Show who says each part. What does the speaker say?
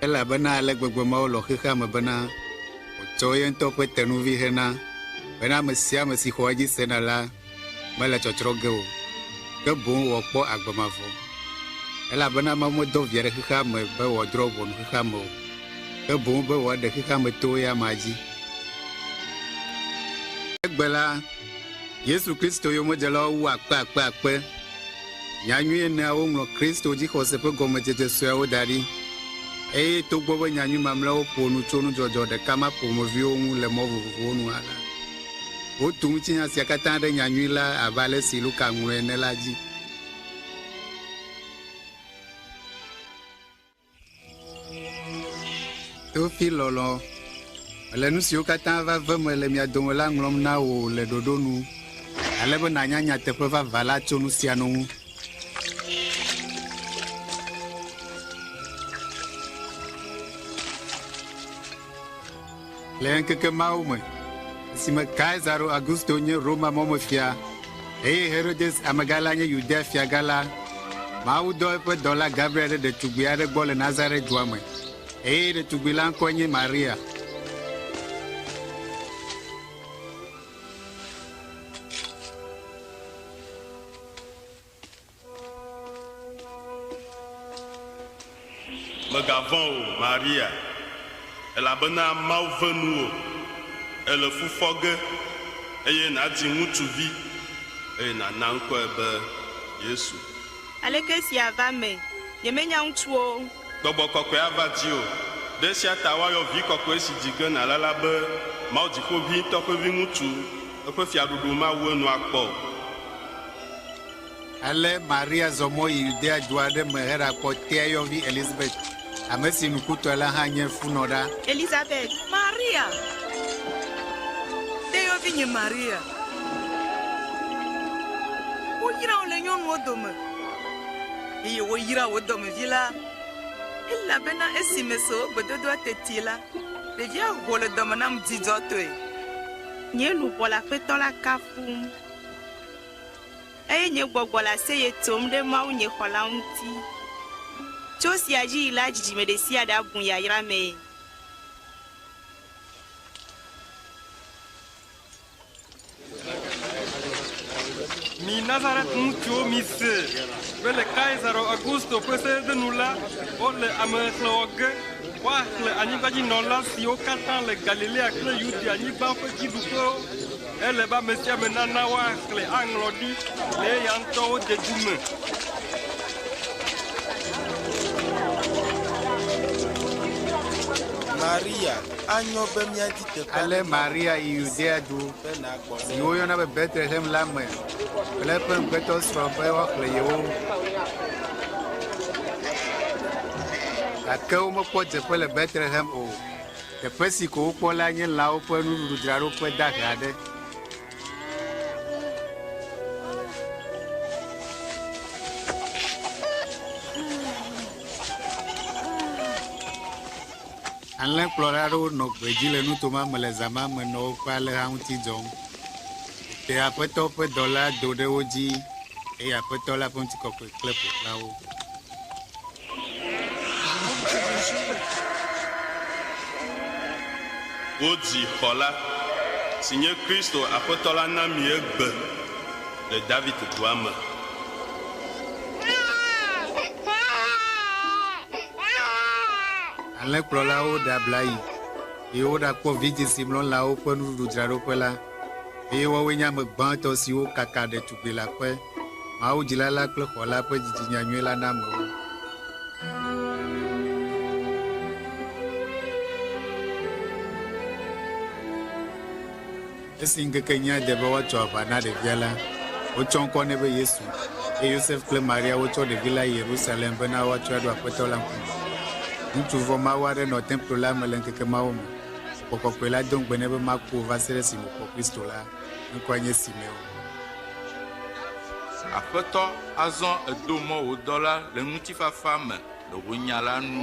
Speaker 1: elabena ale gbegbe Mawu lɔ xexea me bena wòtsɔ ye ŋutɔ ƒe tenuvi hena bena ame sia ame si xɔ edzi sena la mele tsɔtsrɔ̃ ge o, ke boŋ wòakpɔ agbe mavɔ. Elabena Mawu medɔ Via ɖe xexea me be wòadrɔ̃ ʋɔnu xexea me o, ke boŋ be wòaɖe xexea me towo ya amea dzi. Egbe la, Yesu Kristo yomedzelawo wu akpe akpe akpe. Nya nyui eneawo ŋlɔ Kristo dzixɔse ƒe gɔmedzedze sueawo da ɖi. Eye togbɔ be nya nyui mamlɛawo ƒo nu tso nudzɔdzɔ ɖeka ma ƒomeviwo ŋu le mɔ vovovowo nu hã la, wotu ŋutinya sia katã ɖe nya nyui la abe ale si Luka ŋlɔe ene la dzi. Teofil lɔlɔ, mele nu siwo katã va ve me le mia dome la ŋlɔm na wò le ɖoɖo nu, ale be nànya nyateƒe vavã la tso nu sia nu ŋu. Le ŋkeke mawo me, esime Kaisaro Augusto nye Roma mɔmefia, eye Herodes amegã la nye Yudea fiagã la, Mawu dɔ eƒe dɔla Gabriel ɖe ɖetugbui aɖe gbɔ le Nazaret dua me, eye ɖetugbui la ŋkɔe nye Maria.
Speaker 2: Mègavɔ̃ o, Maria, elabena Mawu ve nuwò. Èle fu fɔ ge, eye nàdzi ŋutsuvi, eye nàna ŋkɔe be Yesu. Aleke
Speaker 3: esia va me? Nyemenya ŋutsu o. Gbɔgbɔ kɔkɔe ava
Speaker 2: dziwò. Ɖe esia ta woayɔ Vi Kɔkɔe si dzi ge nàle la be Mawu Dziƒoʋĩtɔ ƒe Viŋutsu. Eƒe fiaɖuɖu mawu enu akpɔ o.
Speaker 1: Ale Maria zɔ mɔ yi Yudea du aɖe me heɖakpɔ tea yɔvi Elizabet, ame si nukutɔe la hã nye funɔ ɖa. Elizabet,
Speaker 3: Maria
Speaker 4: ƒe yɔvi nye Maria. Woyra wò le nyɔnuwo dome, eye woyra wò dɔmevi la, elabena esi meso wò gbedodoa teti la, ɖevia ho le dɔme nam dzidzɔtɔe. Nye
Speaker 3: luʋɔ le Aƒetɔ la kafum. Eye nye gbɔgbɔ le aseye tsom ɖe Mawu nye Xɔla ŋuti. Tso esia dzi yi la dzidzime ɖesiaɖe abu yayra mee.
Speaker 5: Mi Nazaret ŋutsuwo mise be le Kaisaro Augusto ƒe seɖenu la, wole ame xexlẽ wɔ ge, woaxlẽ anyigbadzinɔla siwo katã le Galilea kple Yudea-nyigba ƒe dziɖuƒewo. Ele be ame sia ame nana woaxlẽ aŋlɔ ɖi le eya ŋutɔwo dedu me.
Speaker 6: Maria, anyo be míadi teƒe aɖe Ale na wò. Maria yi
Speaker 1: Yudea du Be nàgbɔ si ɖe woyɔna be Betlehem la me kple eƒe ŋugbetɔsrɔ̃ be woaxlẽ yewo. Gake womekpɔ dzeƒe le Betlehem o, Teƒe si ko wokpɔ lae nye lãwo ƒe nuɖuɖudzraɖoƒe dahe aɖe. Alẽkplɔla aɖewo nɔ gbedzi le nuto ma me le zã ma me nɔ woƒe alẽha ŋuti dzɔm. Tete Aƒetɔ ƒe dɔla do ɖe wo dzi, eye Aƒetɔ la ƒe ŋutikɔkɔe klẽ ƒo xlã wo.
Speaker 2: Wodzi xɔla, si nye Kristo Aƒetɔ la na mi egbe le David dua me.
Speaker 1: Alẽkplɔlawo ɖe abla yi, eye woɖakpɔ vidzĩ si mlɔ lãwo ƒe nuɖuɖudzraɖoƒe la, eye woawoe nye ame gbãtɔ siwo kaka ɖetugbelaƒe. Mawu dzila la kple xɔ la ƒe dzidzinya nyui la na amewo. Esi ŋkekenyea de be woatso aʋa na ɖevia la, wotsɔ ŋkɔ nɛ be Yesu, eye Yosef kple Maria wotsɔ ɖevi la yi Yerusalem bena woatsɔe aɖo Aƒetɔ la ŋkume. Ŋutsu vɔ̃mawu aɖe nɔ templo la me le ŋkeke mawo me. Gbɔgbɔ kɔkɔe la do ŋugbe nɛ be maku o va se ɖe esime wòkpɔ Kristo la. Ŋkɔe nye Simeo.
Speaker 6: Aƒetɔ, azɔ èdo mɔ wò dɔla le ŋutifafa me le wò nya la nu.